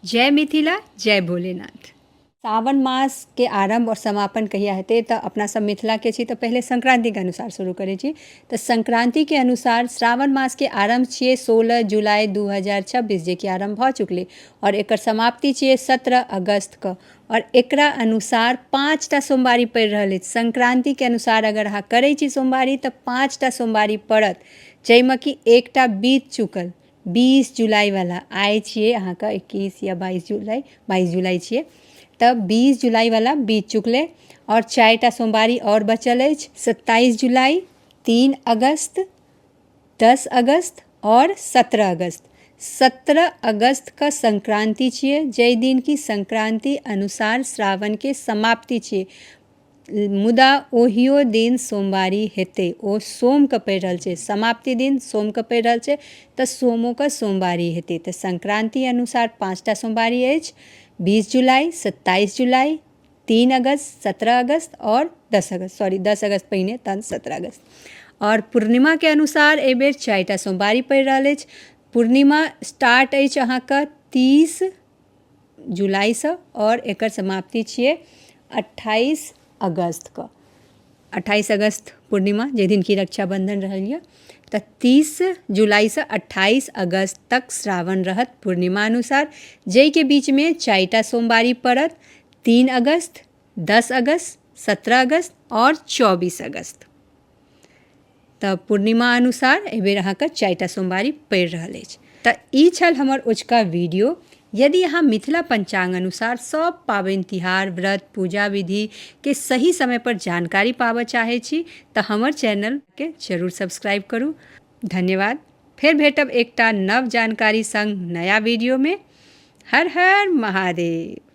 जय मिथिला जय भोलेनाथ सावन मास के आरंभ और समापन कहिया हेतै तऽ अपना सब मिथिला के छी तऽ पहिले संक्रांति के अनुसार शुरू करै छी तऽ संक्रांति के अनुसार श्रावण मास के आरंभ छियै 16 जुलाई 2026 जे कि आरंभ भऽ चुकलै और एकर समाप्ति छियै 17 अगस्त के और एकरा अनुसार पाँच टा सोमवारी पड़ि रहल अछि संक्रांति के अनुसार अगर अहाँ करै छी सोमवारी तऽ पाँच टा सोमवारी पड़त जाहिमे कि एकटा बीत चुकल बीस जुलाइवला आइ छियै अहाँके इक्कीस या बाइस जुलाइ बाइस जुलाइ छियै तऽ बीस जुलाइवला बीत चुकलै आओर चारि टा सोमवारी आओर बचल अछि सत्ताइस जुलाइ तीन अगस्त दस अगस्त आओर सत्रह अगस्त सत्रह अगस्तके संक्रान्ति छियै जाहि दिन कि संक्रान्ति अनुसार श्रावणके समाप्ति छियै मुदा ओहियो दिन सोमवारी हेतै ओ सोमके पड़ि रहल छै समाप्ति दिन सोमके पड़ि रहल छै तऽ सोमोके सोमवारी हेतै तऽ संक्रान्ति अनुसार पाँचटा सोमवारी अछि बीस जुलाई सत्ताइस जुलाई तीन अगस्त सत्रह अगस्त आओर दस अगस्त सॉरी दस अगस्त पहिने तहन सत्रह अगस्त आओर पूर्णिमाके अनुसार एहिबेर चारिटा सोमवारी पड़ि रहल अछि पूर्णिमा स्टार्ट अछि अहाँके तीस जुलाइसँ आओर एकर समाप्ति छियै अठाइस अगस्तके अठाइस अगस्त पूर्णिमा जाहि दिन कि रक्षाबन्धन रहल यऽ तऽ तीस जुलाइसँ अठाइस अगस्त तक श्रावण रहत पूर्णिमा अनुसार जाहिके बीचमे चारि टा सोमवारी पड़त तीन अगस्त दस अगस्त सत्रह अगस्त आओर चौबीस अगस्त तऽ पूर्णिमा अनुसार एहि बेर अहाँके चारि टा सोमवारी पड़ि रहल अछि तऽ ई छल हमर ओझका वीडियो यदि अहाँ मिथिला पञ्चाङ्ग अनुसार सभ पाबनि तिहार व्रत पूजा विधिके सही समय पर जानकारी पाबऽ चाहै छी तऽ हमर चैनलके जरूर सब्सक्राइब करू धन्यवाद फेर भेटब एकटा नव जानकारी सङ्ग नया वीडियोमे हर हर महादेव